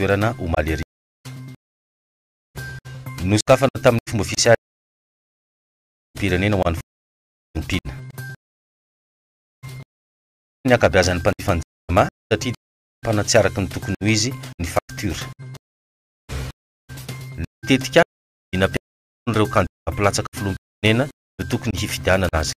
toerana omaly hariva. Nosokafana tamin'ny fomba ofisialy ny Filoham-pirenena ho an'ny Fiompiana. Niteny ny ankabeazan'ny mpanjifa ny Jirama satria dia nitsapana tsy araka ny tokony ho izy ny faktiora. Ny tetikasa dia nampianarina an'ireo kandida mpilatsaka Filoham-pirenena no tokony hifidianana azy ireo.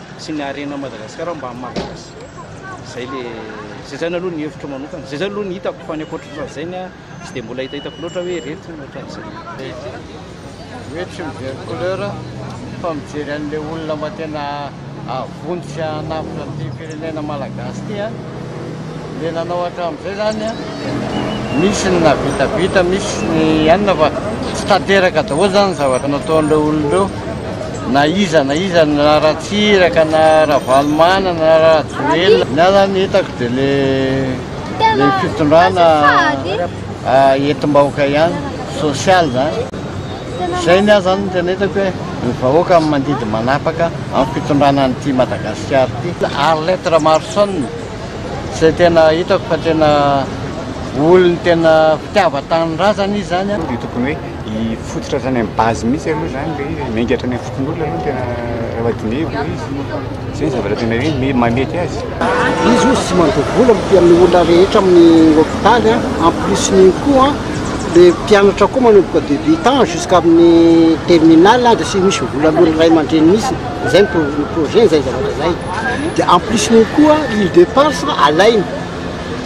sy ny harena Madagasikara mba mampirasa zay le zay zany aloha ny hevitro manokana zay zany aloha ny hitako fa ny ankoatr'izay ny tsy dia mbola hitahitako loatra hoe ireto ny ohatran'izay hoe tsy mijery couleur fa mijery an'ilay olona mba tena avonjy sy hanavotra an'ity firenena malagasy ity a Ilay nanao hatramin'izay izany, misy ny nahavitabita, misy ny anona fa tsy tanteraka daholo izany ny zavatra nataon'ireo olona ireo. Na iza na iza, na Ratsiraka, na Ravalomanana, na Rajoelina. Ny ahy izany hitako dia ilay ilay fitondrana entim-bahoaka ihany, social izany. Izay ny ahy izany no tena hitako hoe ny vahoaka no mandidy manapaka amin'ny fitondrana an'ity Madagasikara ity. Arlette Ramarison izay tena hitako fa tena olon'ny tena fitiavan-tanindrazana izy izany. Dia tokony hoe hifototra hatrany amin'ny base mihitsy aloha izany ilay izy e, miainga hatrany amin'ny fokonolona aloha ny tena raha dinihiko ilay izy. Izay ny zavatra tena hoe me- mahamety azy. Izy hozy tsy mandoa vola mitia amin'ny olona rehetra amin'ny hopitaly an, en plus n'igny koa an le mpianatra koa manomboka de huit ans jusqu'à amin'ny terminale an de tsy misy vola aloan'ny ray aman-dreniny mihitsy, izay ny pro- ny projet-ny izay zavatra izay, de en plus n'igny koa île de Pars alainy.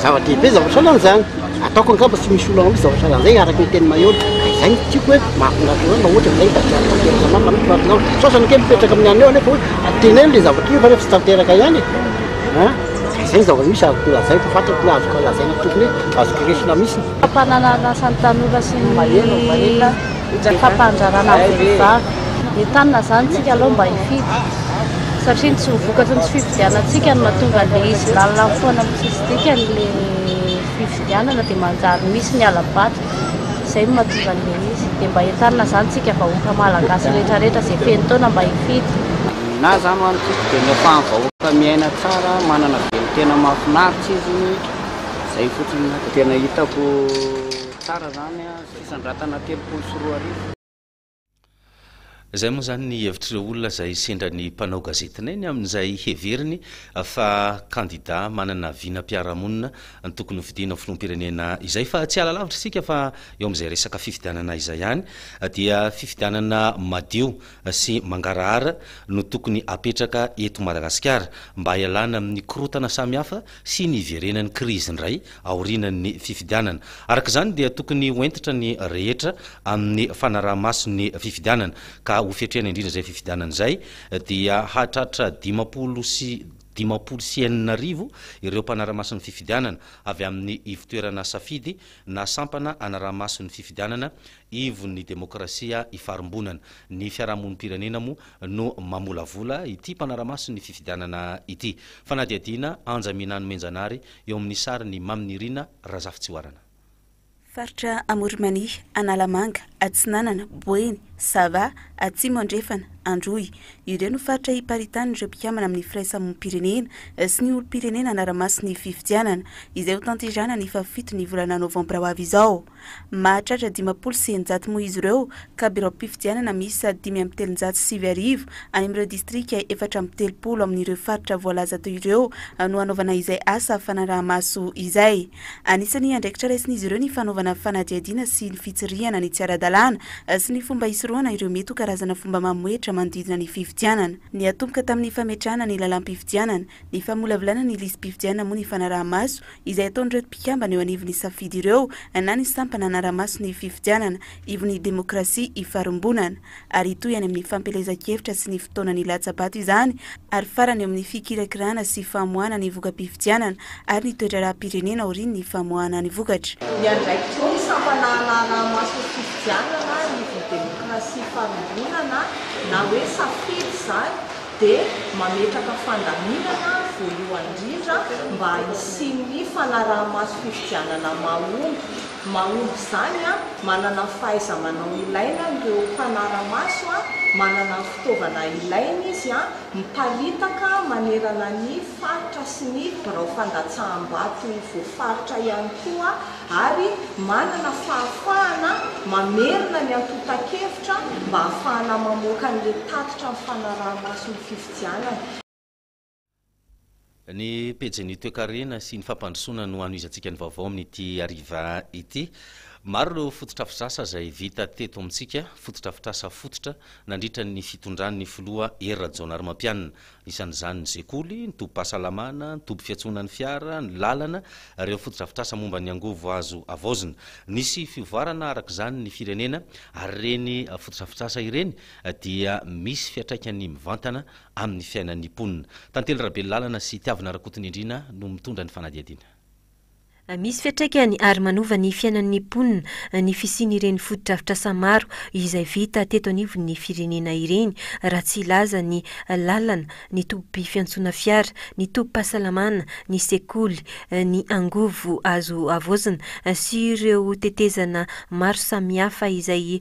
Zava-dehibe zavatra sahala an'izany. Ataoko angamba tsy misy olana loatra zavatra sahala an'izay araka ny tenin'i Maheola. Ka izay no tiako hoe mahafinaritra an'zany raha ohatra izay ka tsy afa-tanteraka mafy mihitsy fa angamba sasany kely mipetraka amin'ny anio anefa hoe teneno ilay zavatra io kanefa tsy tanteraka ihany e! a. Ka izay ny zava-misy azoko lazaina, fantatro ny azoko lazaina tokony hoe azoko resona mihitsy. Fampananan'asa ny tanora sy ny. Ny fampandrarana vehivavy. Entanina izany tsika aloha mba hifidy satria ny tsy vokatry ny tsy fifidianantsika no mahatonga ilay izy lalina mifoana amin'ny tsisy dikany ilay fifidianana dia manjary misy ny halabato izay no mahatonga an'ilay izy dia mba entanina izany tsika vahoaka malagasy rehetra rehetra izay feno taona mba hifidy Na izany ho an'ny tiako dia ny ampahan'ny vahoaka miaina tsara, manana velon-tena mahafinaritra izy, izay fotsiny no tena hitako tsara izany. Fandratana telopolo sy roa arivo. Izay moa izany ny hevitr'ireo olona izay sendra ny mpanao gazetinay ny amin'izay heveriny fa kandida manana vinam-piarahamonina tokony hofidiana ho filoham-pirenena izay. Fa tsy hiala lavitra isika fa eo amin'izay resaka fifidianana izay ihany dia fifidianana madio sy mangarahara no tokony hapetraka eto Madagasikara mba hialana amin'ny korontana samihafa sy ny hiverenan'ny krizy indray aorianan'ny fifidianana. Araka izany dia tokony ho hentitra ny rehetra amin'ny fanaraha-maso ny fifidianana ka ho fetrena indrindra izay fifidianana izay dia hahatratra dimampolo sy dimampolo sy enina arivo ireo mpanara-maso ny fifidianana avy amin'ny ivon-toerana safidy na sampana anaraha-maso ny fifidianana ivon'ny demokrasia ifarimbonana. Ny fiarahamonim-pirenena moa no mamolavola ity mpanara-maso ny fifidianana ity. Fanadihadiana, Anja Minano Menjanary eo amin'ny sarin'i Mamy Nirina Razafitsihoarana. Faritra Amorimania, Analamanga, Atsinanana, Boeny, Sava, Atsimo Andrefana, Androy. Ireo no faritra iparitahan'ireo mpikambana amin'ny firaisamonim-pirenena sy ny olom-pirenena hanara-maso ny fifidianana izay ho tanterahana ny fahafito ny volana novambra ho avy izao. Mahatratra dimampolo sy eninjato moa izy ireo ka biraom-pifidianana miisa dimy amby telonjato sy sivy arivo any amin'ireo distrika efatra amby telopolo amin'ireo faritra voalaza teo ireo no hanaovana izay asa fanaraha-maso izay. Anisan'ny andraikitra raisin'izy ireo ny fanaovana fanadihadiana sy ny fitsirihana ny tsy ara-dalàna sy ny fomba hisorohana ireo mety ho karazana fomba mamohehitra manodidina ny fifidianana. Niatomboka tamin'ny fametrahana ny lalàm-pifidianana, Ny famolavolana ny lisi-pifidianana moa ny fanaraha-maso izay ataon'ireto mpikambana eo anivon'ny safidy ireo na ny sampana hanara-maso ny fifidianana ivon'ny demokrasia ifarimbonana ary hitohy any amin'ny fampielezan-kevitra sy ny fotoanan'ny latsa-bato izany ary farany eo amin'ny fikirakirana sy famoahana ny voka-pifidianana ary ny toedraharaham-pirenena aorian'ny famoahana ny vokatra. Ny andraikitry ny sampana hanara-maso ny fifidianana ivon'ny demokrasia ifarimbonana na hoe safidy izany dia mametraka fandaminana voalohany indrindra mba hisian'ny fanarahamaso fifidianana mahomby. Mahomby izany, manana ny fahaiza-manao ilaina ireo mpanara-maso, manana ny fitaovana ilaina izy, miparitaka manerana ny faritra sy ny birao fandatsaham-bato voafaritra ihany koa. ary manana fahafahana mamerina ny antontan-kevitra mba hahafahana mamoaka an'ireo tatitra ny fanaraha-maso ny fifidianana. Ny pejin'ny toekarena sy ny fampandrosoana no hanohizantsika ny vaovao amin'ity hariva ity. Maro ireo fototr'afitrasa izay vita teto amintsika, fototr'afitrasa fototra nandritra ny fitondran'ny filoha Hery Rajaonarimampianina. isan'izany ny sekoly, ny tobim-pahasalamana, ny toby fiantsoana ny fiara, ny lalana, ary ireo fotodrafitrasa momba ny angovo azo havaozina. Nisy fivoarana araka izany ny firenena, ary ireny fotodrafitrasa ireny dia misy fiantraikany mivantana amin'ny fiainan'ny mponina. Tantely Rabelolàlana sy Tiavina Rakotonindrina no mitondra ny fanadihadiana. Misy fiantraikany ary manova ny fiainan'ny mponina ny fisian'ireny fotodrafitrasa maro izay vita teto anivon'ny firenena ireny, raha tsy hilaza ny lalana, ny toby fiantsoana fiara, ny tobim-pahasalamana, ny sekoly, ny angovo azo havaozina sy ireo tetezana maro samihafa izay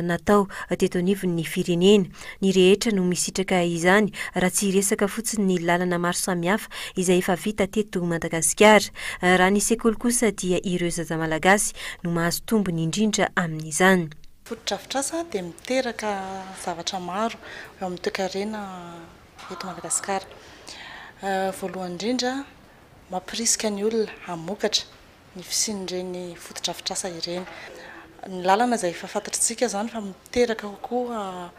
natao teto anivon'ny firenena. Ny rehetra no misitraka izany raha tsy hiresaka fotsiny ny lalana maro samihafa izay efa vita teto Madagasikara. Raha ny sekoly kosa dia ireo zaza malagasy no mahazo tombony indrindra amin'izany. Fotodrafitrasa dia miteraka zavatra maro eo amin'ny toekarena eto Madagasikara. Voalohany indrindra mampirisika ny olona hamokatra ny fisian'ireny fotodrafitrasa ireny. Ny lalana izay efa fantatr'tsika izany fa miteraka kokoa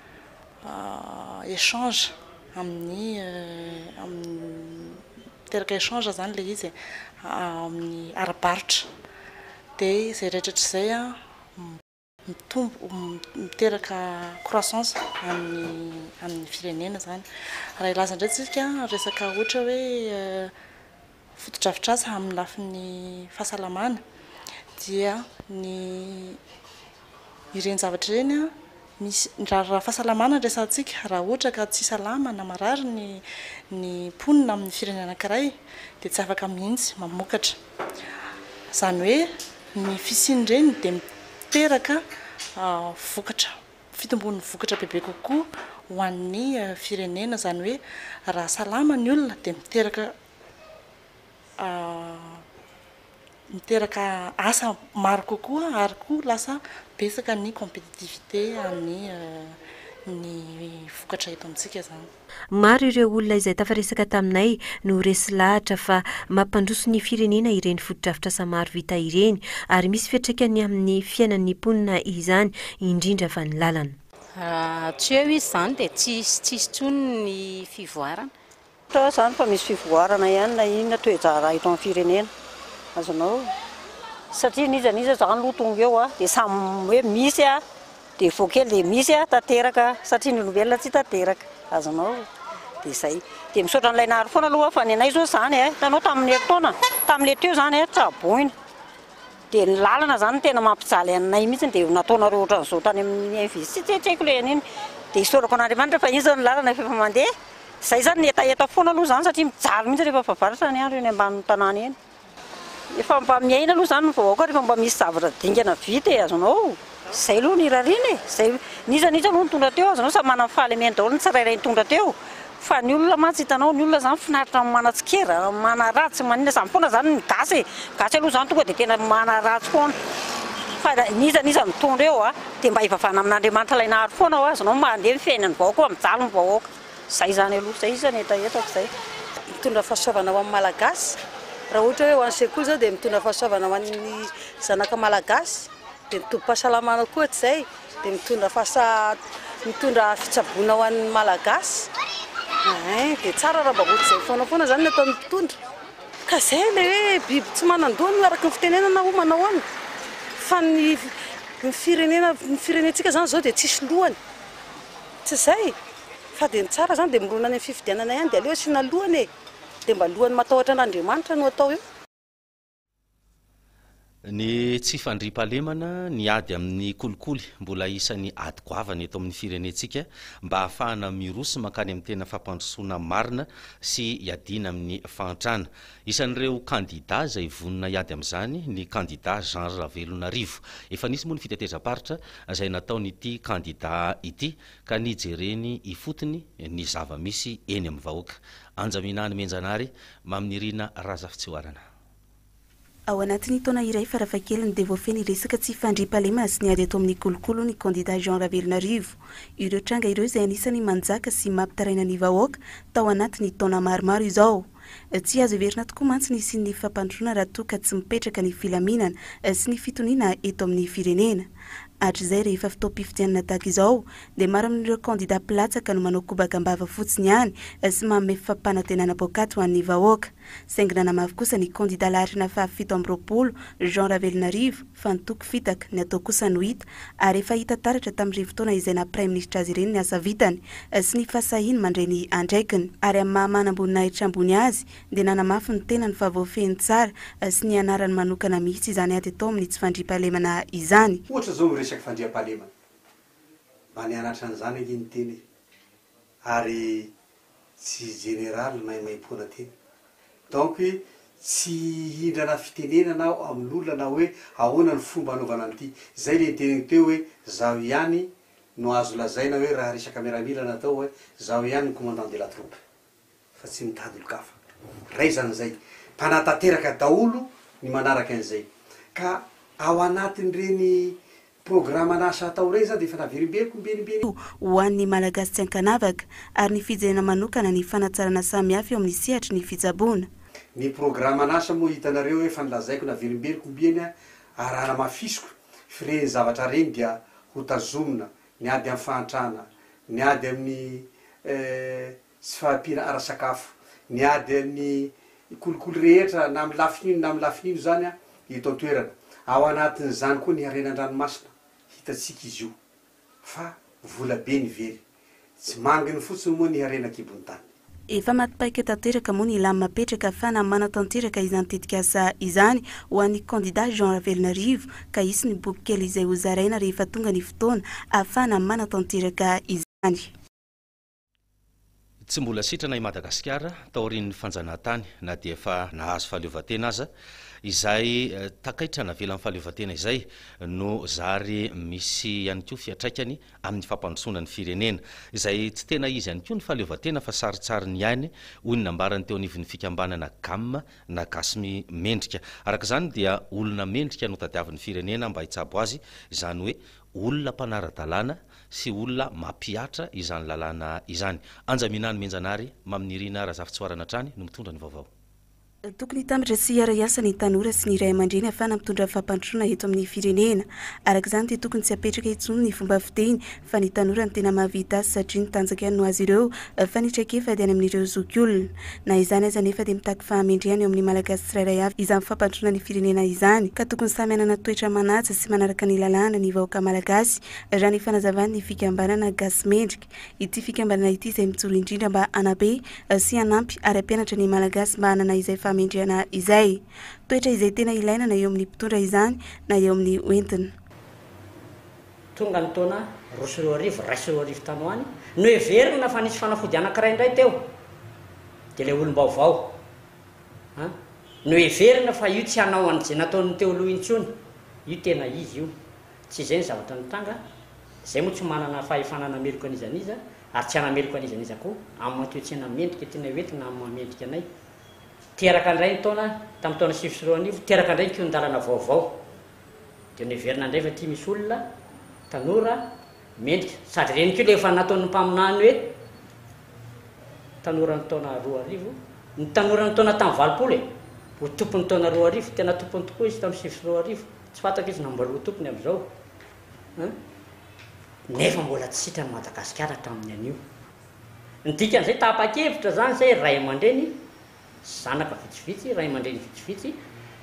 échange amin'ny miteraka échange izany ilay izy amin'ny ara-barotra dia izay rehetra hatrizay mitombo miteraka croissance amin'ny firenena izany. Raha hilaza indray isika resaka ohatra hoe fotodrafitrasa amin'ny lafiny fahasalamana dia ny ireny zavatra ireny misy, raha fahasalamana no resahantsika, raha ohatra ka tsy salama na marary ny mponina amin'ny firenena anankiray dia tsy afaka mihitsy mamokatra. Izany hoe ny fisian'ireny dia miteraka vokatra, fitomboan'ny vokatra bebe kokoa ho an'ny firenena, izany hoe raha salama ny olona dia miteraka miteraka asa maro kokoa ary koa lasa betsaka ny compétitivité an'ny ny vokatra eto amintsika izany. Maro ireo olona izay tafaresaka taminay no resy lahatra fa mampandroso ny firenena ireny fotodrafitrasa maro vita ireny ary misy fiantraikany amin'ny fiainan'ny mponina izany indrindra fa ny lalana. Raha tsy eo izy izany dia tsy hisy tsy hisy intsony ny fivoarana. Ohatra izany fa misy fivoarana ihany na inona toe-draharaha eto amin'ny firenena. Azonao satria n'iza n'iza izany aloha tonga eo dia samy hoe misy aho. Dia vao kely dia misy a tanteraka satria ny olombelona tsy tanteraka. Azonao? Dia izay. Dia misaotra an'ilay nahary foana aloha fa ny anay izao izany a, hitanao tamin'ny herintaona, tamin'ilay teo izany a, tsaboina. Dia ny lalana izany no tena mampijaly anay mihitsy dia nataonareo ohatran'izao tany amin'ny invest, tsy tsy haiko ilay an'iny. Dia isaorako an'Andriamanitra fa iny izao ny lalana efa mandeha. Izay izany ny hetaheta foana aloha izany satria mijaly mihitsy rehefa favaratra ny andro eny ambanin'ny tanàna eny. Efa mba miaina aloha izany ny vahoaka rehefa mba misy zavatra dingana vita e, azonao, izay aloha no irariana e, izay, n'iza n'iza aloha nitondra teo, azonao, samy manana ny fahalemeny daholo ny tsirairay nitondra teo, fa ny olona mantsy hitanao, ny olona izany finaritra amin'ny manatsikera, amin'ny manaraha, tsy maninona, izany foana izany ny gasy e, gasy aloha izany tonga dia tena manaraha tsy foana, fa n'iza n'iza nitondra eo a, dia mba hivavahana amin'Andriamanitra ilay nahary foana ho azonao, mba handeha ny fiainan'ny vahoaka, mba mijaly ny vahoaka. Zay izany aloha, zay izy zany hetaheta fa zay. Mitondra fahasoavana ho an'ny Malagasy, raha ohatra hoe ho an'ny sekoly izao dia mitondra fahasoavana ho an'ny zanaka Malagasy, dia ny tobim-pahasalamana koa tsy izay dia mitondra fahasalamana, mitondra fitsaboana ho an'ny Malagasy, eeh dia tsara raha mba ohatr'izay foana foana izany ny ataon'ny mpitondra, ka izay ilay hoe biby tsy manan-doha no araka ny fitenenana hoy manahoana, fa ny firenena, ny firenentsika izany izao dia tsisy lohany. Tsy izay e! Fa dia ny tsara izany dia mirona any amin'ny fifidianana ihany dia aleo asiana lohany e! Dia mba lohany matahotra an'Andriamanitra no atao eo. Ny tsy fandriampahalemana, ny ady amin'ny kolikoly mbola isan'ny ady goavana eto amin'ny firenentsika mba hahafahana miroso mankany amin'ny tena fampandrosoana marina sy hiadiana amin'ny fahantrana. Isan'ireo kandidà izay vonona hiady amin'izany ny kandidà Jean Ravelonarivo. Efa nisy moa ny fitetezam-paritra izay nataon'ity kandidà ity ka nijereny ifotony ny zava-misy eny amin'ny vahoaka. Anjaminany Menjanary, Maminirina Razafitsihoarana. Ao anatin'ny taona iray farafahakeliny dia voafehy ny resaka tsy fandriampahalemana sy ny ady ato amin'ny kolokolo ny kandidà Jean Ravelonarivo. Ireo tranga ireo izay anisan'ny manjaka sy mampitaraina ny vahoaka tao anatin'ny taona maromaro izao. Tsy azo heverina tokoa mantsy ny hisian'ny fampandrosoana raha toa ka tsy mipetraka ny filaminana sy ny fitoniana eto amin'ny firenena. Hatrizay rehefa fotoam-pifidianana tahaka izao dia maro amin'ireo kandida mpilatsaka no manao kobaka am-bava fotsiny ihany sy manome fampanantenana poakaty ho an'ny vahoaka. Saingy nanamafy kosa ny kandida laharana fahafito amby roapolo, Jean Ravelonarivo, fa ny toky fitaka, ny atao kosa no hita, ary efa hita taratra tamin'ireny fotoana izay naha praiminisitra azy ireny ny asa vitany sy ny fahasahiany mandray ny andraikiny, ary amin'ny maha manamboninahitra ambony azy dia nanamafy ny tenany fa voafehy ny tsara sy ny anarany manokana mihitsy izany ady atao amin'ny tsy fandriampahalemana izany. Ohatra izao ny resaka fandriampahalemana, mba nianatra an'izany ange ny tena e! ary tsy jeneraly maimaimpoana ty. Donc tsy hihindrana fitenenana aho amin'olona na hoe ahoana ny fomba anaovana an'ity. Zay le niteneniko teo hoe zaho ihany no azo lazaina hoe raha resaka miaramila natao hoe zaho ihany ny commandant de la troupe. fa tsy mitady olon-kafa. Raizana izay. Mpanatanteraka daholo ny manaraka an'izay. Ka ao anatin'ireny programan'asa atao ireny izany dia efa naverimberiko mibenimbenina. ho an'ny Malagasy tsy an-kanavaka, ary ny fijerena manokana ny fanatsarana samihafa eo amin'ny sehatry ny fitsaboana. Ny programan'asa moa hitanareo efa nolazaiko naverimberiko mby eny ary raha namafisiko, firen'ny zavatra reny dia hotazomina, ny ady amin'ny fahantrana, ny ady amin'ny eh, Tsy fahampianara sakafo. Miady amin'ny kolikoly rehetra na amin'ny lafiny ino na amin'ny lafiny ino izany ny eto an-toerana. Ao anatin'izany koa ny harena an-dranomasina. Hitantsika izy io. Fa vola be ny very. Tsy manginy fotsiny moa ny harena an-kibon'ny tany. Efa maty paika tanteraka moa ny lamina apetraka fa na manatanteraka izany tetikasa izany ho an'ny kandida Jean Ravelonarivo ka hisy ny boky kely izay ho zaraina rehefa tonga ny fotoana ahafahana manatanteraka izany. Tsy mbola sitrana i Madagasikara taorian'ny fanjanahantany na dia efa nahazo fahaleovantena aza. Izay takaitra navelan'ny fahaleovantena izay no zary misy ihany koa fiatraikany amin'ny fampandrosoana ny firenena. Izay tsy tena izy ihany koa ny fahaleovantena fa sarintsariny ihany, hoy ny nambarany teo anivon'ny fikambanana Gam na Gasy Mendrika. Araka izany dia olona mendrika no tadiavin'ny firenena mba hitsabo azy, izany hoe olona mpanara-dalàna sy olona mampihatra izany lalàna izany. Anja Minany Menjanary, Mamy Nirina Razafintsoarana hatrany no mitondra ny vaovao. Tokony hitambatra sy hiara-hiasa ny tanora sy ny ray aman-dreny hahafahana mitondra fampandrosoana eto amin'ny firenena. Araka izany dia tokony tsy hapetraka intsony ny fomba fiteny fa ny tanora no tena mahavita asa satria ny tanjaka ihany no azy ireo Fa ny traikefa dia any amin'ireo zokiolona. Na izany aza anefa dia mitaky fahamendrehana eo amin'ny Malagasy tsirairay avy izany fampandroana ny firenena izany ka tokony samy hanana toetra manaja sy manaraka ny lalàna ny vahoaka Malagasy raha ny fanazavan'ny fikambanana Gasy Mendrika. Ity fikambanana ity izay mijoro indrindra mba hanabe sy hanampy ary hampianatra ny Malagasy mba hanana izay fahamendrehana izay. Toetra izay tena ilaina na eo amin'ny mpitondra izany na eo amin'ny hoentina. Tonga ny taona roa sy roa arivo, iray sy roa arivo tany ho any, noheverina fa nisy fanafody anankiray indray teo, dia ilay olom-baovao an, noheverina fa io tsy hanao an'izay nataon'ny teo aloha intsony, io tena izy io, tsy izay ny zavatra nitranga, izay moa tsy manana fahefana hanameloka an'iza n'iza, ary tsy hanameloka an'iza n'iza koa, amin'ny matoetsena mendrika tianay ho entina amin'ny maha-mendrika anay. Teraka indray ny taona, tamin'ny taona sivy sy roa arivo, teraka indray ny kihon-dalana vaovao. Dia niverina indray fa ity misy olona tanora mendrika. Sady ireny koa ilay efa nataon'ny mpaminany hoe tanoran'ny taona roa arivo, ny tanoran'ny taona tamin'ny valopolo e! ho tompon'ny taona roa arivo, tena tompony tokoa izy tamin'ny sivy sy roa arivo, tsy fantatra izy na mbola ho tompony amin'izao an! nefa mbola tsy sitran'i Madagasikara hatramin'ny anio. Ny dikan'izay tapa-kevitra izany izay ray aman-dreny zanaka vitsivitsy, ray aman-dreny vitsivitsy,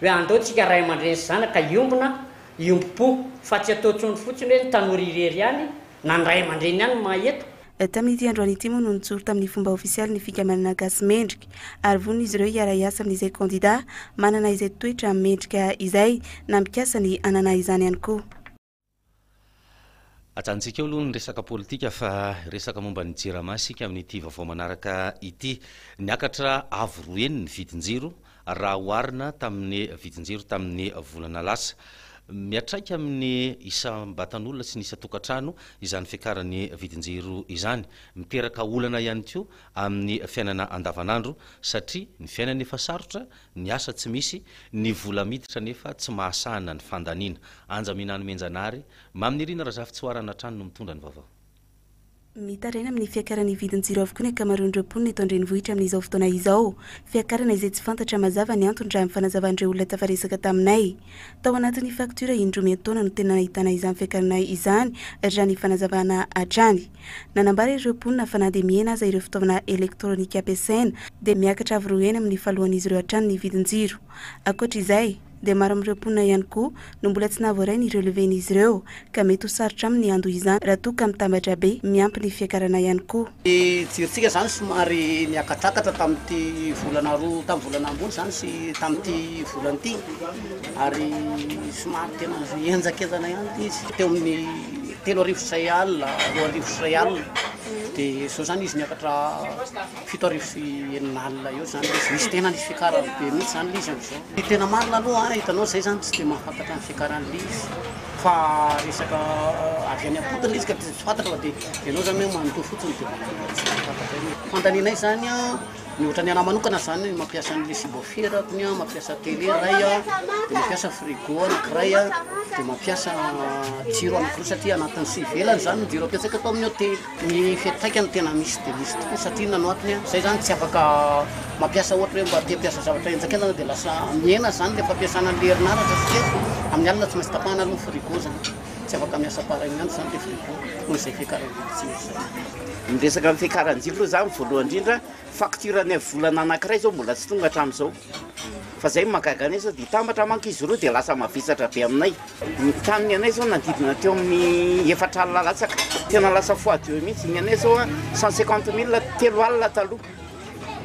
hoe andao tsika ray aman-dreny sy zanaka hiombona, hiombom-po, fa tsy atao intsony fotsiny hoe ny tanora irery ihany na ny ray aman-dreny ihany no mahay eto. Tamin'ity androany ity moa no nijoro tamin'ny fomba ofisialy ny Fikambanana Gasy Mendrika, ary vonin'izy ireo hiara-hiasa amin'izay kandida manana izay toetra mendrika izay, na mikasa ny hanana izany ihany koa. Ajanontsika eo aloha ny resaka politika fa hiresaka momba ny Jirama isika amin'ity vaovao manaraka ity. Niakatra avo roa heny ny vidin-jiro raha oharina tamin'ny vidin-jiro tamin'ny volana lasa. Miatraika amin'ny isam-batan'olona sy ny isan-tokantrano izany fiakaran'ny vidin-jiro izany. Miteraka olana ihany koa amin'ny fiainana andavanandro satria ny fiainana efa sarotra Ny asa tsy misy, ny vola miditra nefa tsy mahasahana ny fandaniana. Anja Minanomenjanahary, Maminirina Razafitsihoarana hatrany no mitondra ny vaovao. Mitaraina amin'ny fiakaran'ny vidin-jiro avokoa ny ankamaroan'ireo mponina eto an-drenivohitra amin'izao fotoana izao. Fiakarana izay tsy fantatra mazava ny antony raha ny fanazavan'ireo olona tafaresaka taminay. Tao anatin'ny faktiora indroa miantaona no tena nahitana izany fiakarana izany, raha ny fanazavana hatrany. Nanambara ireo mponina fa na dia mihena aza ireo fitaovana elektronika ampiasaina, dia miakatra avo roa heny amin'ny fahalohan'izy ireo hatrany ny vidin-jiro. Ankoatra izay, dia maro amin'ireo mponina ihany koa no mbola tsy nahavoaray ny relevé-n'izy ireo, ka mety ho sarotra aminy ny handoa izany raha toa ka mitambatra be, miampy ny fiakarana ihany koa. Ny jirontsika izany somary niakatrakatra tamin'ity volana roa, tamin'ny volana ambony izany sy tamin'ity volana ity, ary somary tena henjakenjana ihany ity izy, teo amin'ny telo arivo sy iray alina, roa arivo sy iray alina, dia izao izany izy niakatra fito arivo sy enina alina eo izany ilay izy, misy tena nisy fiakarana be mihitsy izany ilay izy amin'izao. Ny tena marina aloha an, hitanao izay izany tsy dia mahafantatra ny fiakaran'ilay izy. Fa resaka avy any am-potony le izy ka de tsy fantatra fa de enao zany hoe manontolo fotsiny de manana tsy fantatra io. Fandalinay zany a, ny ohatran'ny anah manokana zany hoe mampiasa an'le subwoofer aho konia, mampiasa tele ray a, de mampiasa frigo anakiray a, de mampiasa jiro anakiroa satria anatin'ny sy ivelany zany ny jiro ampiasaiko ato amin'ny hotely. Ny fiantraikany no tena misy dia misy tokoa satria inona no antony a, zay zany tsy afaka mampiasa ohatra hoe mba te hampiasa zavatra henjak'entana dia lasa mihena zany le fampiasana an'le herinaratra satria amin'ny alina tsy maintsy tapahana aloha ny frigo zany, tsy afaka miasa pareil mihintsy zany le frigo noho izay fiakaran-jipo tsy misy zany. Miresaka ny fiakaran-jipo aloha za ny voalohany indrindra, facture-ny volana anankiray zao mbola tsy tonga hatramin'izao. Fa izay no mahagaga anay sao dia hitambatra manko izy roa dia lasa mavesatra be aminay. Ny tanin'ny anay izao nanodidina teo amin'ny efatra alina latsaka. Tena lasa fois deux mihitsy. Ny anay izao cent cinquante mille telo alina taloha.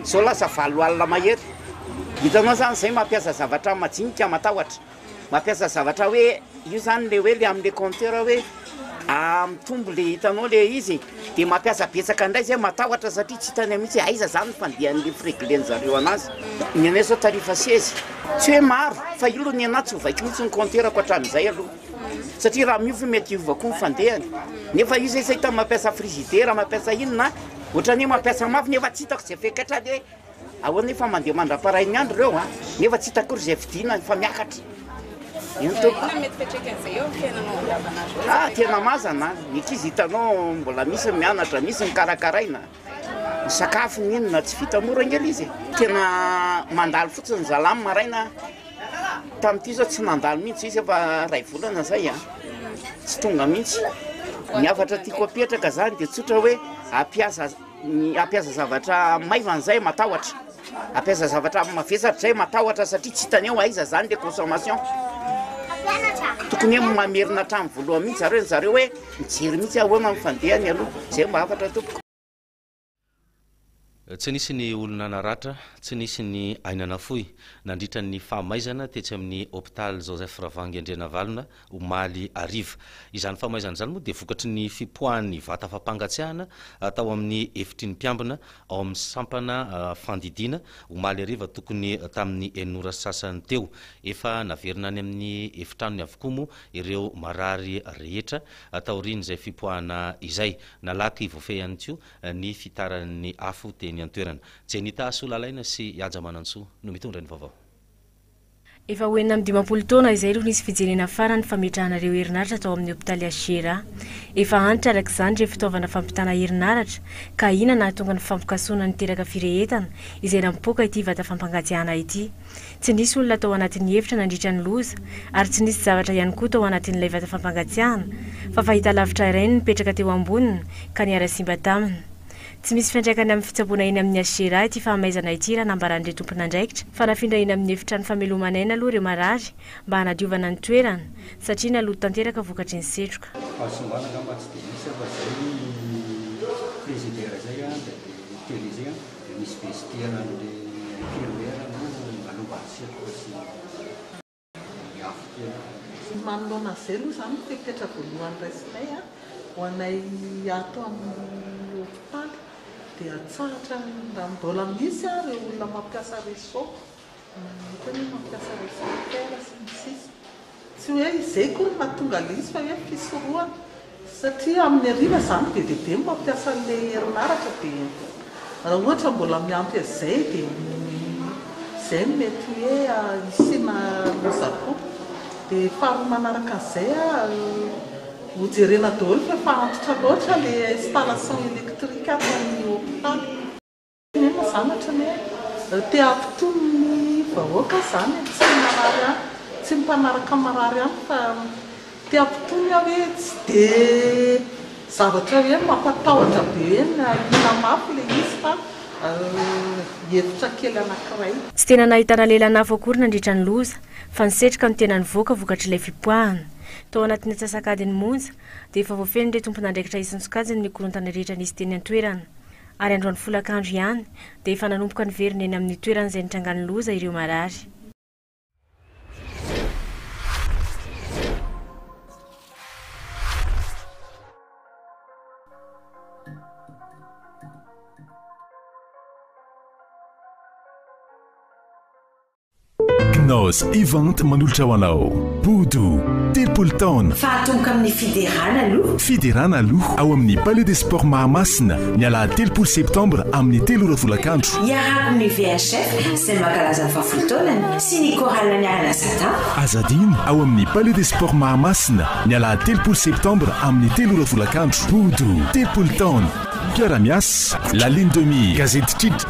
Izao lasa valo alina mahery. Hitanao izany izay mampiasa zavatra majinika matahotra. Mampiasa zavatra hoe io zany le hoe le amle compteur hoe mitombo le hitanao le izy de mampiasa betsaka ndray zay matahotra satria tsy hitany mitsy aiza zany ny fandehanle freglen zareo anazy ny anay zao tarif seize tsy hoe maro fa io lo ny anah tsy ho vaiko mitsy ny compteur ko atramizay aloha satria raha miova mety hiova ko ny fandehany nefa io zay tsy hitany mampiasa frizidera mampiasa inona otrany mampiasa mafy nefa tsy hitako ze fepetra le Ahoana io fa mandeha mandra-parain'ny andro ireo an, nefa tsy hita akory izay fidinany fa miakatra. Eny tompoko. Inona mety fetrika an'izay eo amin'ny fiainanao andavanandro? Ah, tena mazana, ny ankizy hitanao mbola misy ny mianatra, misy ny karakaraina, ny sakafo, ny inona, tsy vita mora ange le izy e. Tena mandalo fotsiny zalahy ny maraina, tamin'ity izao tsy nandalo mihitsy, izy efa iray volana izay an, tsy tonga mihitsy. Ny hafatra tiako apetraka izany dia tsotra hoe hampiasa. Ny hampiasa zavatra maivana zay matahotra, hampiasa zavatra mavesatra zay matahotra satria tsy hitany eo aiza zany le consommation, tokony hoe mamerina hatrany voalohany mihitsy zareo, zareo hoe mijery mihitsy ahoana ny fandehany aloha, zay mba hafatra tompoko. Tsy nisy ny olona naratra, tsy nisy ny aina nafoy nandritra ny fahamaizana tetsy amin'ny hopitaly Joseph Ravangy Andrianavalona omaly hariva. Izany famaizana izany moa dia vokatry ny fipoahan'ny vata fampangatsiahana tao amin'ny efitry ny mpiambina ao amin'ny sampana fandidiana omaly hariva tokony tamin'ny enina ora sy sasany teo. Efa naverina any amin'ny efitranony avokoa moa ireo marary rehetra taorian'izay fipoahana izay. Nalaky voafehy ihany koa ny fitaran'ny afo teny an-toerana. Jenny Tahasolalaina sy Haja Manantsoa no mitondra ny vaovao. Efa ho enina amby dimampolo taona izay no nisy fijerena farany fametrahana ireo herinaratra tao amin'ny hopitaly HGRA. Efa antitra araka izany ireo fitaovana fampitana herinaratra ka ina nahatonga ny fampikasoana niteraka firehetana izay nampipoaka ity vata fampangatsiahana ity. Tsy nisy olona tao anatin'ny efitra nandritra ny loza ary tsy nisy zavatra ihany koa tao anatin'ilay vata fampangatsiahana fa fahitalavitra iray no nipetraka teo amboniny ka niara-simba taminy. Tsy misy fiantraikany amin'ny fitsaboana eny amin'ny HGRA ity fahamaizana ity raha nambaran'ireo tompon'andraikitra fa nafindra eny amin'ny efitrano fameloman'aina aloha ireo marary mba hanadiovana ny toerana satria naloto tanteraka vokatry ny setroka. Fahasimbana angamba tsy dia misy fa izay ny frigidaire izay dia tele izay dia misy vestiaire an'ilay infirmière no nanaovany setroka sy ny. Ny manoloana an'izay aloha izany no fepetra voalohany raisinay ho anay ato amin'ny hopitaly dia hatsahatra raha mbola misy ary ireo olona mampiasa réseau, hitan'ny hoe mampiasa réseau Airtel sy ny sisa. Tsy hoe izay koa no mahatonga ilay izy fa hoe fisorohana. Satria amin'ny hariva izany be dia be ny mampiasa an'ilay herinaratra dia raha ohatra mbola miampy an'izay dia izay no mety hoe hisiana loza koa. Dia faharoa manaraka an'izay ho jerena daholo fa efa antitra loatra ilay installation électrique ato amin'ny hopitaly. Inona izany ohatran'ny hoe te hampitony ny vahoaka aho izany e, tsy ny marary ihany, tsy ny mpanaraka marary ihany fa te hampitony aho hoe tsy dia zavatra hoe mampatahotra be hoe ny ahiana mafy ilay izy fa hevitra kely anankiray. Tsy tena nahitana lehilahy nafo akory nandritra ny loza fa ny setroka no tena nivoaka vokatr'ilay fipoahana. Tao anatin'ny antsasak'adiny monja dia efa voafehin'ireo tompon'andraikitra isan-tsokajiny ny korontana rehetra nisy teny an-toerana. ary androany folakandro ihany dia efa nanomboka niverina eny amin'ny toerana izay nitrangan'ny loza ireo marary. Knaus Event manolotra ho anao Bodo, telopolo taona. Fahatongoka amin'ny Fiderana aloha. Fiderana aloha ao amin'ny Palais des Sports Mahamasina ny alahady telopolo septambra amin'ny telo ora folakandro. Hiarahako amin'ny VHF izay mankalaza ny fahafolo taonany sy ny Chorale Niarana Satan. Aza adino ao amin'ny Palais des Sports Mahamasina ny alahady telopolo septambra amin'ny telo ora folakandro. Bodo, telopolo taona. Mpiara-miasa, La Lune de Mire, Gazety Kitra.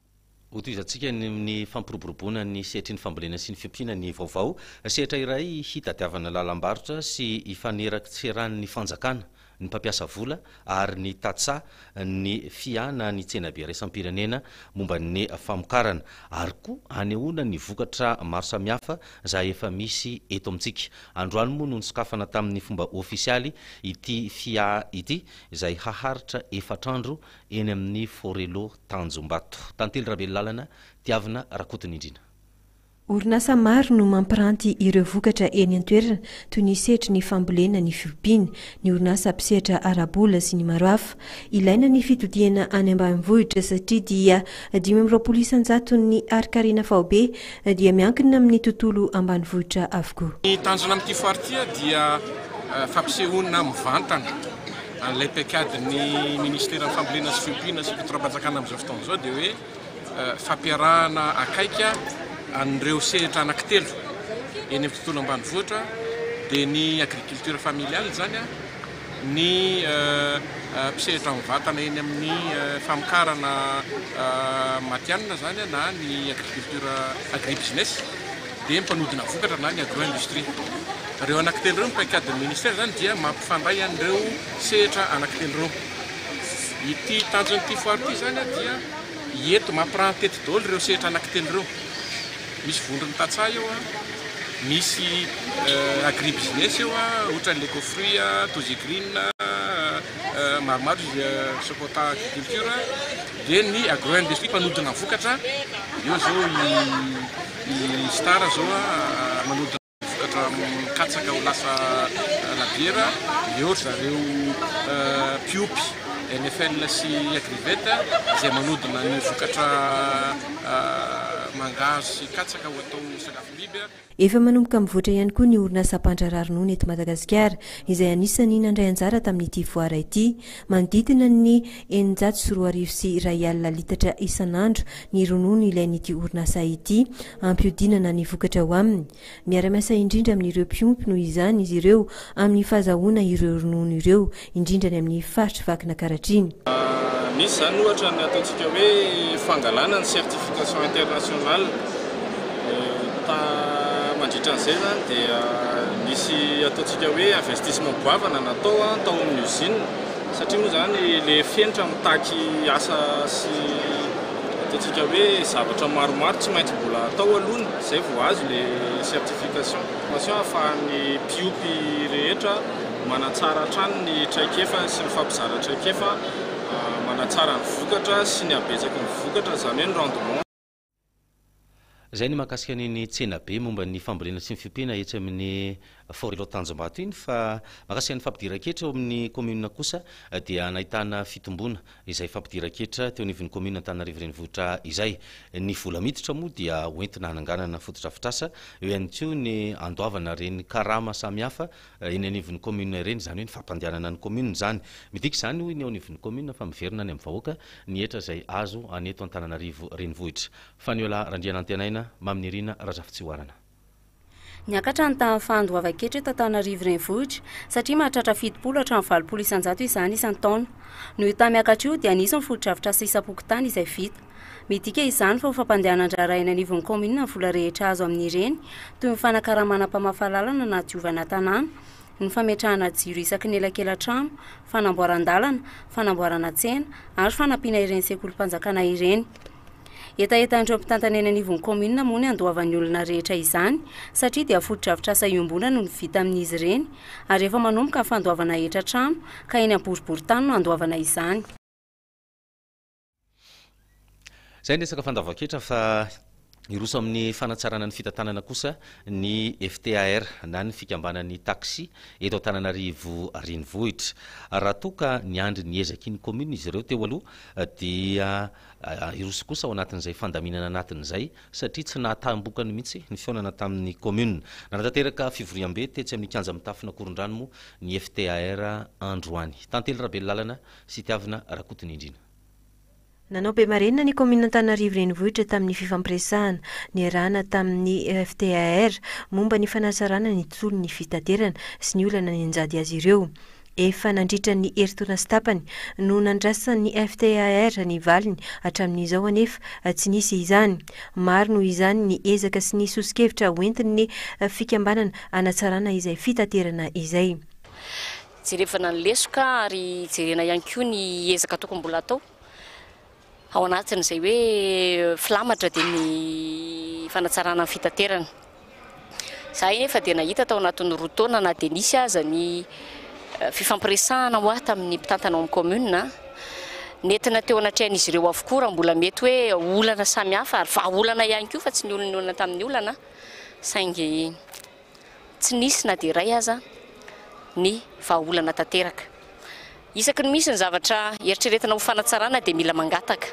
Hotohizantsika ny fampiroboroboana ny sehatry ny fambolena sy ny fiompiana ny vaovao sehatra iray hitadiavana lalam-barotra sy hifaneraktserahan'ny fanjakana, ny mpampiasa vola ary ny tantsaha ny fiana ny tsenabe iraisam-pirenena momba ny famokarana ary koa hanehoana ny vokatra maro samihafa izay efa misy eto amintsika. Androany moa no nisokafana tamin'ny fomba ofisialy ity fiaha ity izay haharitra efatra andro eny amin'ny Forello Tanjombato, Tantely Ravelolalana, Tiavina Rakotonindrina. Orinasa maro no mampiranty ireo vokatra eny an-toerana, toy ny sehatry ny fambolena, ny fiompiana, ny orinasa mpisehatra ara-bola sy ny maro hafa. Ilaina ny fitodihana any ambanivohitra satria dia dimy amby roapolo isan-jaton'ny harin-karena faobe dia miankina amin'ny tontolo ambanivohitra avokoa. Ny tanjona amin'ity foire ity dia fampisehoana mivantana an'ilay paikadin'ny Ministeran'ny Fambolena sy Fiompiana sy Fitondrapanjakana amin'izao fotoana izao dia hoe fampiarahana akaiky an'ireo sehatra anankitelo eny amin'ny tontolo ambanivohitra dia ny agriculture familiale izany ny mpisehatra mivantana eny amin'ny famokarana matianina izany na ny agriculture agribusiness dia ny mpanodina vokatra na ny agro industrie. Ireo anankitelo ireo ny paikadin'ny ministera izany dia mampifandray an'ireo sehatra anankitelo ireo. Ity tanjon'ity foire ity izany dia hiety mampirahantety daholo ireo sehatra anankitelo ireo. Misy vondron'ny tantsaha eo, misy agribusiness eo, ohatran'ny Leco Fruits, Tozy Green, maromaro izy, Sokota Agriculture, dia ny agro industrie mpanodina vokatra, eo izao i Star izao manodina. Vokatra mikatsaka ho lasa labiera, eo ry zareo mpiompy NFL sy Agrivet izay manodina ny vokatra mangahazo sy katsaka ho atao sakafom-biby. Efa manomboka mivoatra ihany koa ny orinasa mpandraharaha ronono eto Madagasikara, izay anisan'ny nandray anjara tamin'ity foara ity. Manodidina ny eninjato sy roa arivo sy iray alina litatra isan'andro ny ronono ilain'ity orinasa ity. Hampihodinana ny vokatra ao aminy. Miara-miasa indrindra amin'ireo mpiompy noho izany izy ireo amin'ny fahazahoana ireo ronono ireo, indrindra any amin'ny faritr'i Vakinankaratriny. Misy izany ohatra ny ataontsika hoe fangalana ny certification internationale. Mandritra an'izay izany dia misy ataontsika hoe investissement goavana natao tao amin'ny usine satria moa izany ilay fenitra mitaky asa sy Ataontsika hoe zavatra maromaro tsy maintsy mbola atao aloha ny izay vao azo ilay certification formation ahafahan'ny mpiompy rehetra manatsara hatrany ny traikefany sy ny fampizara traikefa manatsara ny vokatra sy ny habetsaky ny vokatra izany hoe ny rendement Izay ny mahakasika an'iny tsenabe momba ny fambolena sy ny fiompiana etsy amin'ny Forelo Tanjombato iny fa mahakasika ny fampidiran-ketra eo amin'ny kaominina kosa dia nahitana fitomboana izay fampidiran-ketra teo anivon'ny kaominina Antananarivo Renivohitra izay. Ny vola miditra moa dia hoentina hananganana fotodrafitrasa, eo ihany koa ny handoavana ireny karama samihafa eny anivon'ny commune ireny, izany hoe ny fampandehanana ny commune izany. Midika izany hoy ny eo anivon'ny commune fa miverina any amin'ny vahoaka ny hetra izay azo any eto Antananarivo renivohitra. Faniola Randrianantenaina, Mamy Nirina, Razafitsihoarana. Niakatra ny tahan'ny fahandoavan-ketra eto Antananarivo renivohitra satria mahatratra fitopolo hatramin'ny valopolo isan-jato izany isan-taona. Noho io taha-miakatra io dia nisy ny fotodrafitrasa isam-pokontany izay vita. Midika izany fa ho fampandehanan-draharaha eny anivon'ny kaominina ny vola rehetra azo amin'ireny, toy ny fanakaramana mpamafa lalana na diovana tanàna, ny fametrahana jiro isaky ny elakelan-trano, fanamboaran-dalana, fanamboarana tsena ary fanampiana ireny sekolim-panjakana ireny. Hetahetan'ireo mpitantana eny anivon'ny kaominina moa ny handoavan'ny olona rehetra izany satria dia fotodrafitrasa iombonana no vita amin'izy ireny ary efa manomboka ny fandoavana hetra trano ka eny am-boriborintany no handoavana izany. Izay ny resaka fandavan-ketra fa hiroso amin'ny fanatsarana ny fitantanana kosa ny FTAR na ny fikambanan'ny taxi eto Antananarivo renivohitra. Raha toa ka niandry ny ezaky ny commune izy ireo teo aloha dia ah, hiroso kosa ao anatin'izay fandaminana anatin'izay satria tsy nahataham-bokany mihitsy ny fihaonana tamin'ny commune. Nanatanteraka fivoriambe tetsy amin'ny kianja mitafona Korondrano moa ny FTAR androany. Tantely Rabelolàlana Sitiavina Rakotonindrina. Nanao be marenina ny kaominina Antananarivo Renivohitra tamin'ny fifampiresahana niarahana tamin'ny FTAR momba ny fanatsarana ny tsolon'ny fitaterana sy ny olana nianjady azy ireo. Efa nandritra ny herintaona sy tapany no nandrasan'ny FTAR ny valiny, hatramin'izao anefa tsy nisy izany. Maro noho izany ny ezaka sy ny soso-kevitra hoentin'ny fikambanana hanatsarana izay fitaterana izay. Jerevana ny lesoka ary jerena ihany koa ny ezaka tokony mbola atao ao anatin'izay hoe filamatra dia ny fanatsarana ny fitaterana. Za efa dia nahita tao anatin'ny roa taona na dia nisy aza ny eh, fifampiresahana hoa tamin'ny mpitantana ao amin'ny commune, netina teo anatrehan'izy ireo avokoa raha mbola mety hoe olana samihafa ary vahaolana ihany koa fa tsy ny olona olana tamin'ny olana saingy tsy nisy na dia iray aza ny vahaolana tanteraka. Isaky ny misy ny zavatra eritreretina ho fanatsarana dia mila mangataka,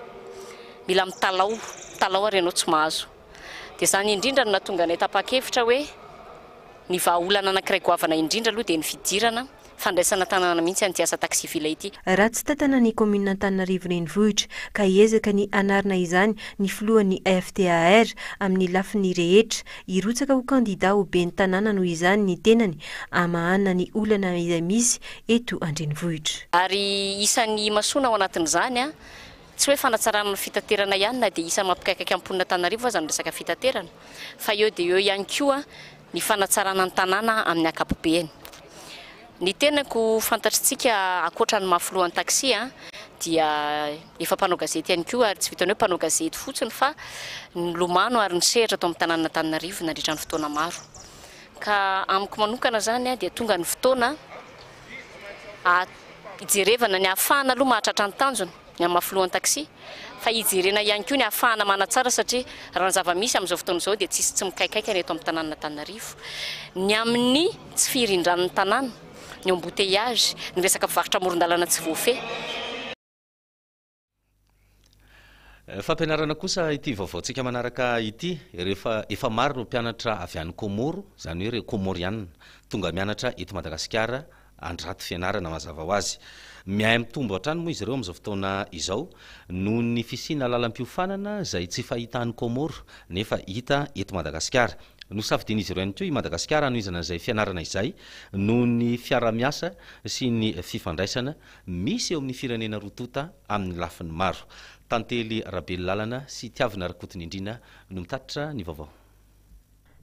mila mitalaho, mitalaho ary ianao tsy mahazo. Dia izany indrindra no nahatonga anay tapa-kevitra hoe ny vahaolana anankiray goavana indrindra aloha dia ny fidirana Fandraisana tanana mihitsy an'ity asa taxi-villa ity. Raha tsy tantana ny kaominina Antananarivo Renivohitra ka hiezaka ny hanarina izany ny filohan'ny FTAR amin'ny lafiny rehetra, hirotsaka ho kandida ho ben'ny tanàna noho izany ny tenany hamahana ny olana izay misy eto an-drenivohitra. Ary isan'ny imasoana ao anatin'izany, tsy hoe fanatsarana ny fitaterana ihany na dia isan'ny mampikaikaika ny mponina Antananarivo aza ny resaka fitaterana fa eo dia eo ihany koa, ny fanatsarana ny tanàna amin'ny ankapobeany. Ny tenako ho fantatr'tsika ankoatra ny maha filohan'ny taxi a, dia efa mpanao gazety ihany koa ary tsy vitan'ny hoe mpanao gazety fotsiny fa nilomano ary nisehatra tao amin'ny tanànan'Antananarivo nandritra ny fotoana maro. Ka amiko manokana izany a dia tonga ny fotoana a hijerevana ny ahafahana aloha mahatratra ny tanjona, ny amin'ny maha filohan'ny taxi fa hijerena ihany koa ny hahafahana manatsara satria raha ny zava-misy amin'izao fotoana izao dia tsisy tsy mikaikaika ny eto amin'ny tanànan'Antananarivo ny amin'ny tsy firindran'ny tanàna, ny embouteillages, ny resaka mpivarotra amoron-dalana tsy voafehy. Fampianarana kosa ity vaovaontsika manaraka ity, rehefa efa maro ireo mpianatra avy any Kômôro, izany hoe ireo Kômôrianina, tonga mianatra eto Madagasikara, an-draty fianarana mazava ho azy. Miahy mitombo hatrany moa izy ireo amin'izao fotoana izao noho ny fisiana lalam-piofanana izay tsy fahita any Comores nefa hita eto Madagasikara. Nosafidian'izy ireo ihany koa i Madagasikara hanohizana izay fianarana izay noho ny fiaraha-miasa sy ny fifandraisana misy eo amin'ny firenena roa tonta amin'ny lafiny maro. Tantely Rabelolalana sy Tiavina Rakotonindrina no mitatitra ny vaovao.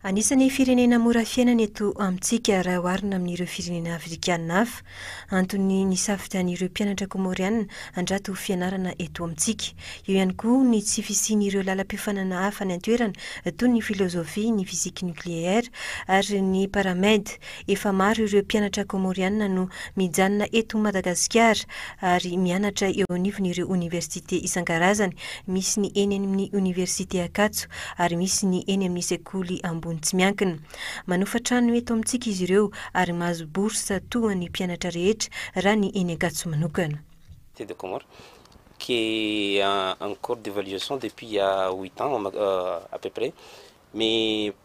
Anisan'ny firenena mora fiainana eto amintsika raha oharina amin'ireo firenena afrikana hafa. Antony nisafidian'ireo mpianatra Kômôriana handrato ho fianarana eto amintsika. Eo ihany koa ny tsy fisian'ireo lalam-piofanana hafa any an-toerana toy ny filôzôfia, ny fisiky nokleaire ary ny paramed. Efa maro ireo mpianatra Kômôriana no mijanona eto Madagasikara ary mianatra eo anivon'ireo oniversite isan-karazany, misy ny eny amin'ny oniversite Ankatso ary misy ny eny amin'ny sekoly ambony tsy miankina. Manofa trano eto amintsika izy ireo ary mahazo bourse toa ny mpianatra rehetra raha ny eny Ankatso manokana. Thé de Comores, qui est en cours d'évaluation depuis il y a huit ans à peu près, mais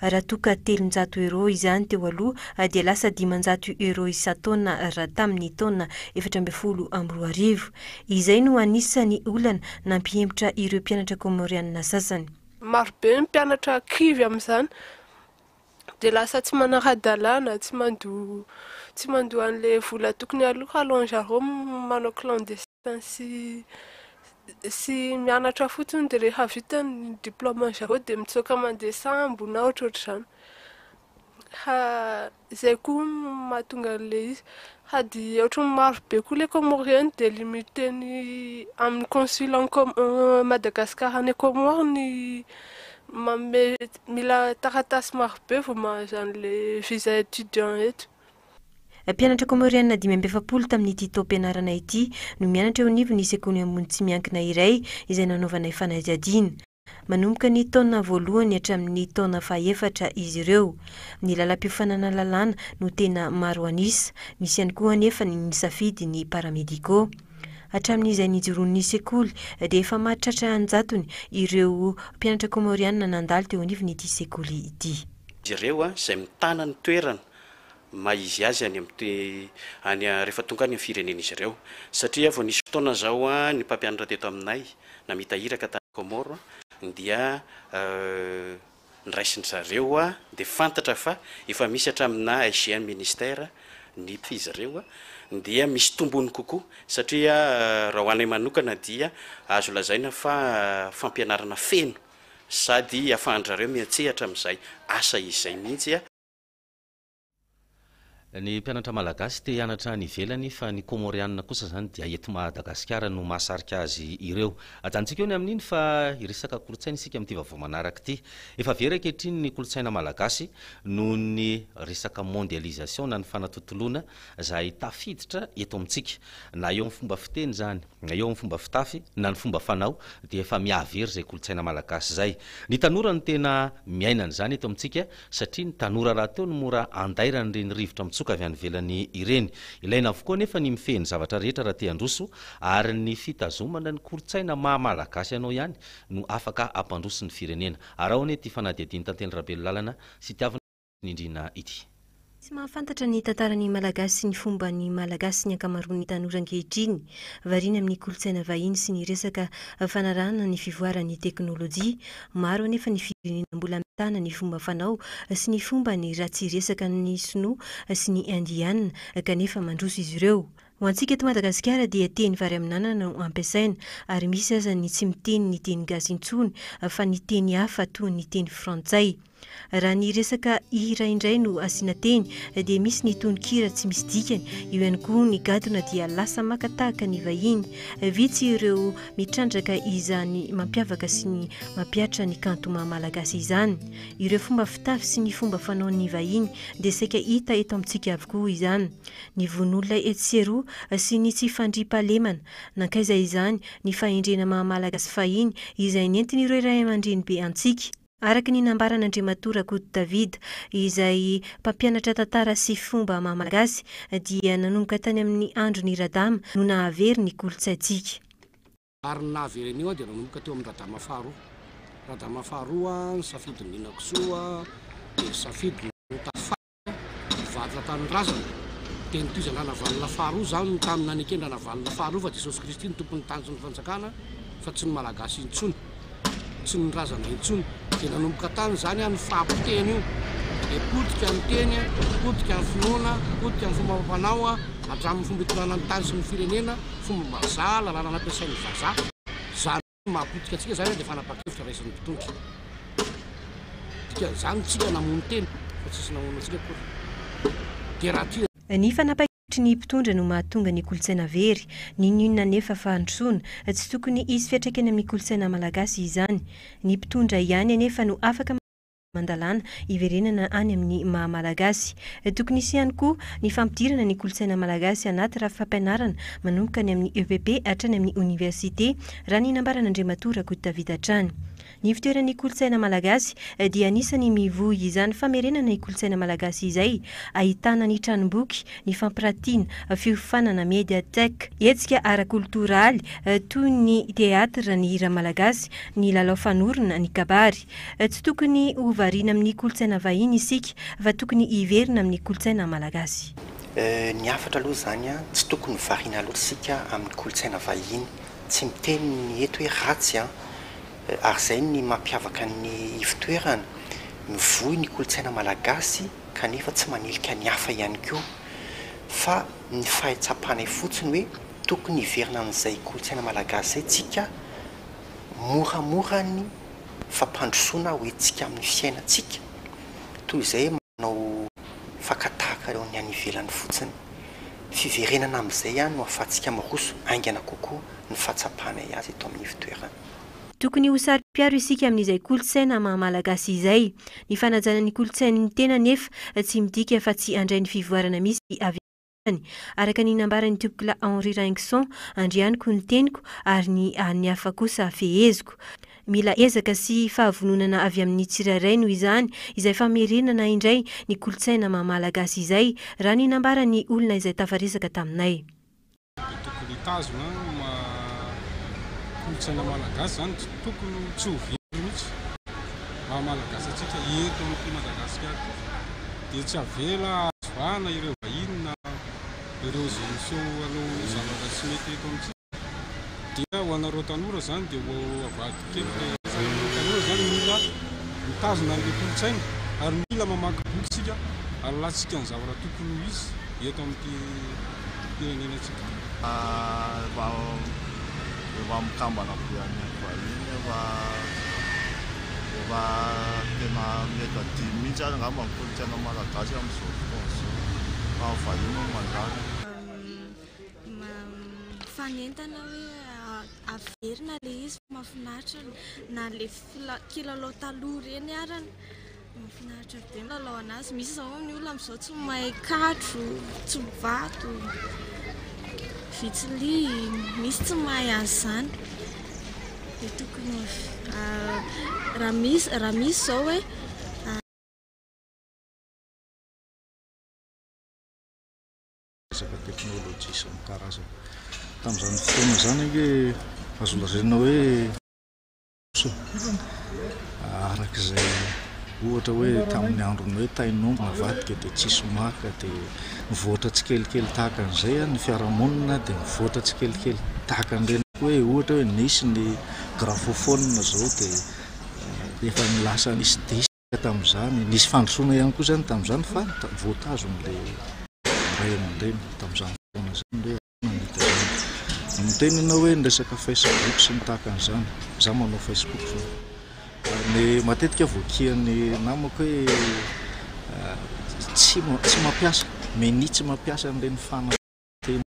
Raha toa ka telonjato euros izany teo aloha dia lasa dimanjato euros isan-taona raha tamin'ny taona efatra ambin'ny folo amby roa arivo. Izay no anisan'ny olana nampihemotra ireo mpianatra Kômôriana sasany. Marobe ny mpianatra kivy amin'izany dia lasa tsy manara-dalàna, tsy mandoa tsy mandoa an'ilay vola tokony aloha, alors zareo manao clandestin. sy sy mianatra fotsiny dia rehefa vita ny diplaoman'ny zareo dia mitsoaka mandeha sambo na ohatrohatr'izany fa izay koa no mahatonga an'ilay izy sady ohatran'ny marobe koa ilay comore any dia limite ny amin'ny consul any com- Madagascar any comore ny manome mila taratasy marobe vao mahazo an'ilay visa étudiant eto Mpianatra Kômôriana dimy amby efapolo tamin'ity taom-pianarana ity no mianatra eo anivon'ny sekoly ambony tsy miankina iray izay nanaovanay fanadihadiana. Manomboka ny taona voalohany hatramin'ny taona fahefatra izy ireo. Ny lalam-piofanana lalàna no tena maro an'isa, misy ihany koa anefa ny nisafidy ny paramédicaux. Hatramin'izay nijoroan'ny sekoly dia efa mahatratra an-jatony ireo mpianatra Kômôriana nandalo teo anivon'ity sekoly ity. ireo izay mitana ny toerana maha izy azy any amin'ny rehefa tonga any amin'ny firenen'izy ireo satria vao nisy fotoana izao ny mpampianatra teto aminay namita iraka tany Comores dia niraisin-dry zareo dia fantatra fa efa misy hatraminà SGM ministère ny izy ireo dia misy tombony kokoa satria raha ho anay manokana dia azo lazaina fa fampianarana feno sady afahan-dRareo miantsehatra amin'izay asa izay mihitsy. Ny mpianatra malagasy te hianatra any ivelany fa ny Kômôrianina kosa izany dia eto Madagasikara no mahasarika azy ireo. Ajanontsika eo ny amin'iny fa hiresaka kolontsaina isika amin'ity vaovao manaraka ity. Efa very ankehitriny ny kolontsaina malagasy noho ny resaka mondialisation na ny fanatontoloana izay tafiditra eto amintsika. Na eo amin'ny fomba fiteny izany. Na eo amin'ny fomba fitafy na ny fomba fanao dia efa mihavy ery izay kolontsaina malagasy izay. Ny tanora no tena miaina an'izany eto amintsika satria ny tanora rahateo no mora andairan'ireny rivotra mitsoka avy any ivelany ireny. Ilaina avokoa anefa ny mifehy ny zavatra rehetra raha te handroso ary ny fitazomana ny kolontsaina maha malagasy anao ihany no afaka hampandroso ny firenena. Araho anie ity fanadihadian'i Tantely Rabelolàlana sy Tiavina. nindriana ity. Tsy mahafantatra ny tantaran'ny Malagasy sy ny fomban'ny Malagasy ny ankamaroan'ny tanora ankehitriny. Variana amin'ny kolontsaina vahiny sy ny resaka fanarahana ny fivoaran'ny teknolojia. Maro anefa ny firenena mbola mitana ny fomba fanao sy ny fombany raha tsy resaka amin'ny Sinoa sy ny Indiana kanefa mandroso izy ireo. Ho antsika eto Madagasikara dia teny vary amin'anana no ampiasaina ary misy aza ny tsy miteny ny teny gasy intsony fa ny teny hafa toa ny teny frantsay. Raha ny resaka hira indray no asiana teny dia misy ny tononkira tsy misy dikany, eo ihany koa ny gadona dia lasa maka tahaka ny vahiny. Vitsy ireo mitrandraka izany mampiavaka sy ny mampihatra ny kanto maha malagasy izany. Ireo fomba fitafy sy ny fomba fanaon'ny vahiny dia saika hita eto amintsika avokoa izany. Ny voin'olona etsy sy eroa sy ny tsy fandriampahalemana. Nankaiza izany ny fahendrena maha malagasy fahiny izay nentin'ireo raiamandreny be antsika? Araka ny nambaran'Andriamatoa Rakotodavida, izay mpampianatra tantara sy fomba maha-malagasy, dia nanomboka tany amin'ny andron'i Radama no nahavery ny kolontsaintsika. Ary ny nahavery an'io dia nanomboka teo amin'i Radama faharoa. Radama faharoa, nisafidy ny ninakisoa, dia nisafidy ny ho tafara. Mpivarotra Tanindrazana, dia nitohizan-dRanavalona faharoa izany no tamin'ny naneken'Ranavalona faharoa fa Jesosy Kristy no Tompon'ny Tany sy ny Fanjakana fa tsy ny Malagasy intsony, tsy ny Razana intsony. Dia nanomboka tany izany an io fahapotehana io, dia potika ny teny, potika ny finoana, potika ny fomba amam-panao hatramin'ny fomba itondrana ny tany sy ny firenena, fomba-bazaha, lalàna nampiasain'ny vazaha. Ny mahapotika antsika izany dia fanapahan-kevitra raisin'ny mpitondra. Dikan'izany isika namono tena fa tsisy namono antsika akory. Dia raha tia. Ny fanapahan-kevitry ny mpitondra no mahatonga ny kolontsaina very. Ninoninona anefa fa handrosoana. Tsy tokony hisy fiantraikany amin'ny kolontsaina malagasy izany. Ny mpitondra ihany anefa no afaka. aman-dalàna hiverenana any amin'ny maha Malagasy. Tokony hisy ihany koa ny fampidirana ny kolontsaina malagasy anaty rafy fampianarana manomboka any amin'ny EPP hatrany amin'ny oniversite, raha ny nambaran'Andriamatoa Rakotodavida hatrany. Ny fitoeran'ny kolontsaina malagasy dia anisany mivoy izany famerenana ny kolontsaina malagasy izay, ahitana ny tranomboky, ny fampiratiana, fiofanana, médiathèque, hetsika ara-kolotoraly toy ny teatra, ny hira malagasy, ny lalao fanorona, ny kabary. Tsy tokony ho variana amin'ny kolontsaina vahiny isika fa tokony hiverina amin'ny kolontsaina malagasy. Ny hafatra aloha izany an, tsy tokony ho variana loatra isika amin'ny kolontsaina vahiny. Tsy miteny ny eto hoe ratsy an, ary izay ny mampiavaka ny ivotoerana. Mivoy ny kolontsaina malagasy kanefa tsy manilika ny hafa ihany koa. Fa ny fahetsam-panay fotsiny hoe tokony hiverina amin'izay kolontsaina malagasy izay tsika moramora ny fampandrosoana ho hetsika amin'ny fiainantsika toy izay manao faka tahaka ireo ny any ivelany fotsiny. Fiverenana amin'izay ihany no ahafahantsika miroso haingana kokoa ny fahatsapanay azy eto amin'ny ivotoerana. Tokony ho saro-piaro isika amin'izay kolontsaina maha Malagasy izay. Ny fanajana ny kolontsain'ny tena anefa tsy midika fa tsy handray ny fivoarana misy avy amin'ny. Andriamaniny, araka ny nambaran'i Topikolahy Henri Raingson, Andrianiko ny teniko, ary ny an'ny hafa kosa feheziko. Mila ezaka sy fahavononana avy amin'ny tsirairay noho izany izay famerenana indray ny kolontsaina maha Malagasy izay, raha ny nambaran'ny olona izay tafaresaka taminay. Dia tokony hitazona ny maha kolontsaina Malagasy izany, tsy tokony tsy ho very mihitsy ny maha Malagasy antsika eto amin'ity Madagasikara ity. dia tsy avela azo vahana ireo vahiny na ireo izay miseho hanao zavatra tsy mety eto amintsika dia ho anareo tanora izany dia ho avadik'eloka izany ianareo izany mila mitazona an'ilay kolontsaina ary mila mamaky boky isika halalantsika ny zavatra tokony ho izy eto amin'ity firenenantsika. Efa efa mikambana be any vahiny efa efa tena mety adino mihitsy ary angamba ny kolontsaina malagasy amin'izao fotoana izao fa ny vahiny no mandala. Mifanentana hoe averina ilay izy fa mahafinaritra na ilay kilalao taloha ireny arany. Mahafinaritra be ny lalao anazy. Misy izao ny olona amin'izao tsy mahay katro, tsy vato, vitsili, misy tsy mahay an'izany. Dia tokony ah, raha misy raha misy izao hoe ah, resaka teknolojia sy ny karazany. Tamin'izany fotoana izany ange azo lazaina hoe. Araka izay ohatra hoe tamin'ny andron'ny hoe tain'omby navadika dia tsisy maka dia mivoatra tsikelikely tahaka an'izay ny fiarahamonina dia mivoatra tsikelikely tahaka an'ireny hoe ohatra hoe nisy ny grafophone izao dia eh, efa nilasa nisy disque tamin'izany nisy fandrosoana ihany koa izany tamin'izany fa voatazon'ilay ray aman-dreny tamin'izany fotoana izany Miteny ianao hoe ny resaka facebook sy ny tahaka an'izany, izaho manao facebook izao, ary matetika voakian'ny namako hoe tsy tsy mampiasa, meni tsy mampiasa an'ireny fanaka ireny.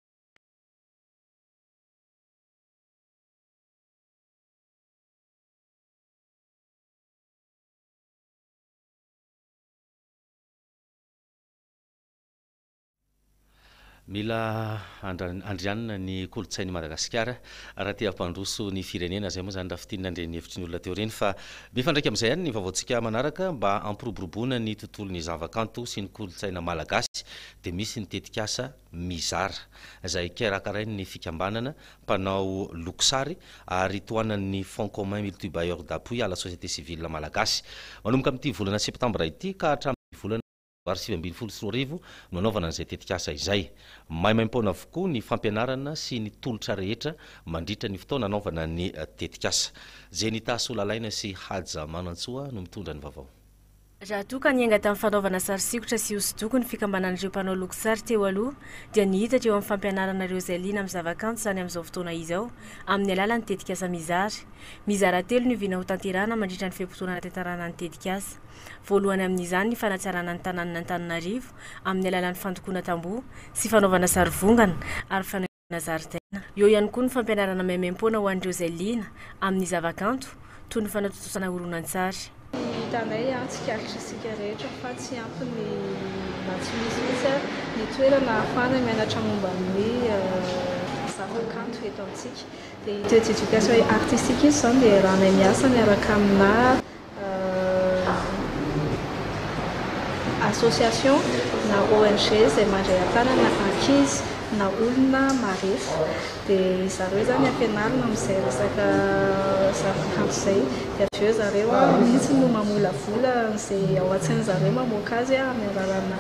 Mila andrianina ny kolontsain'i Madagasikara raha te hampandroso ny firenena, izay moa izany raha fintinina ny renihevitry ny olona teo ireny fa mifandraika amin'izay ihany ny vaovaontsika manaraka mba hampiroboroboana ny tontolon'ny zavakanto sy ny kolontsaina malagasy dia misy ny tetikasa Mizara izay karakarain'ny fikambanana mpanao lokosary ary tohanan'ny Fonds commun multibailleurs d'appui à la société civile malagasy manomboka amin'ity volana septambra ity ka hatramin'ny volana valo sivy ambin'ny folo sy roa arivo no hanaovana an'izay tetikasa izay. Maimaim-poana avokoa ny fampianarana sy ny tolotra rehetra mandritra ny fotoana hanaovana ny tetikasa. Jenita Solalaina sy Haja Manantsoa no mitondra ny vaovao. Raha toa ka niainga tamin'ny fanaovana sary sikotra sy hosodoko ny fikambanan'ireo mpanao loko sary teo aloha dia nihitatra eo amin'ny fampianarana ireo izay liana amin'ny zavakanto izany amin'izao fotoana izao amin'ny alalan'ny tetikasa Mizara. Mizara telo ny vina hotanterahina mandritra ny fe-potoana nahatantarana ny tetikasa. Voalohany amin'izany ny fanatsarana ny tanànan'Antananarivo amin'ny alalan'ny fandokoana tamboho sy fanaovana sarivongana ary fanaingoana zaridaina. Eo ihany koa ny fampianarana maimaim-poana ho an'ireo izay liana amin'ny zavakanto toy ny fanatontosana horonantsary. Hitanay ary tsikaritra isika rehetra fa tsy ampy ny na tsy misy mihitsy ary ny toerana ahafahana mianatra momba ny zavakanto eto amintsika. Dia ity Education artistique ity izao no iarahanay miasa miaraka aminà association na ONG izay mandray an-tanana ankizy na olona marefo dia ry zareo izany ampianarina amin'izay resaka zavakanto izay dia avy eo zareo mihitsy no mamolavola an'izay ao an-tsain'ny zareo mamoaka azy amin'ny alalanà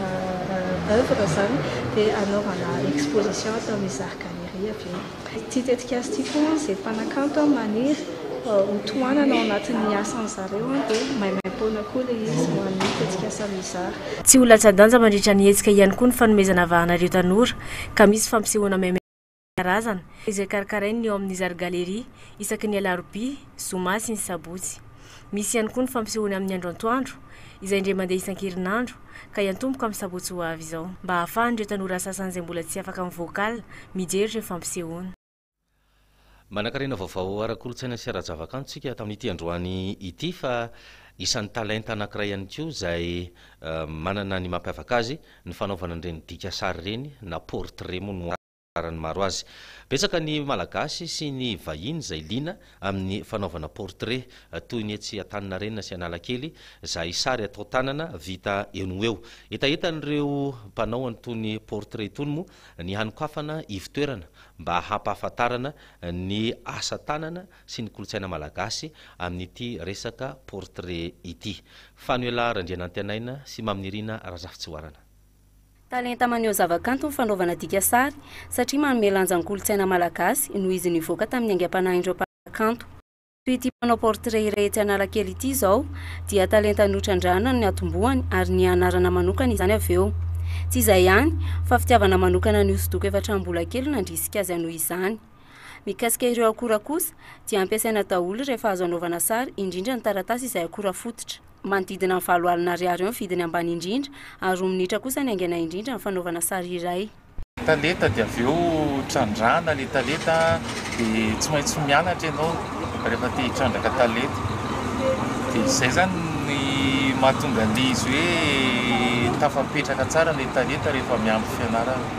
oeuvre izany dia anaovana exposition ato amin'ny Zary Galerie avy eo. Ity tetikasa ity koa izay mpanakanto maniry ho tohanana ao anatin'ny asan'ny zareo dia maimaimpoana koa ilay izy ho an'ny tetikasa mizara. Tsy ho latsa-danja mandritra ny hetsika ihany koa ny fanomezana vahana ireo tanora ka misy fampisehoana maimaimpoana isan-karazany izay karakarain'ny ao amin'ny Zary Galerie isaky ny alarobia, zoma sy ny sabotsy. Misy ihany koa ny fampisehoany amin'ny andro antoandro, izay indray mandeha isan-kerinandro, ka hiantomboka amin'ny sabotsy ho avy izao, mba hahafahan'ireo tanora sasany izay mbola tsy afaka mivoaka ala mijery ireo fampisehoana. Manankarena vaovao ara-kolontsaina sy ara-javakanto isika tamin'ity androany ity fa isan'ny talenta anankiray ihany koa izay manana ny mampiavaka azy ny fanaovana an'ireny dika sary ireny na portrait moa no antony. Fahalalàran'ny maro azy. Betsaka ny Malagasy sy ny vahiny izay liana amin'ny fanaovana portrait, toy ny etsy Antaninarenina sy Analakely, izay sary atao tanana vita eo no eo. Hetahetan'ireo mpanao an'itony portrait itony moa ny hanokafana ivo-toerana mba hampahafantarana ny asa tanana sy ny kolontsaina malagasy amin'ity resaka portrait ity. Fanohelà Randrianantianaina sy Maminirina Razafitsihoarana. Talenta maneho zavakanto ny fanaovana dika sary, satria manome lanja ny kolontsaina malagasy, noho izy nivoaka tamin'ny aingam-panahin'ireo mpanakanto. Toy ity mpanao portrait iray etsy Analakely ity izao, dia talenta notrandrahana no niatombohany, ary niha anarana manokana izany avy eo. Tsy izay ihany, fa fitiavana manokana ny hosodoko efa hatramin'ny mbola kely no nandrisika azy hanohy izany. Mikasika ireo akora kosa, dia ampiasaina daholo rehefa azo anaovana sary, indrindra ny taratasy izay akora fototra. manodidina ny valo alina ariary eo ny vidiny ambany indrindra, ary roa minitra kosa ny haingana indrindra ny fanaovana sary iray. Taleta dia avy eo trandrahana ilay taleta dia tsy maintsy mianatra ianao rehefa te hitrandraka taleta dia izay izany ny mahatonga an'ilay izy hoe tafapetraka tsara ilay taleta rehefa miampy fianarana.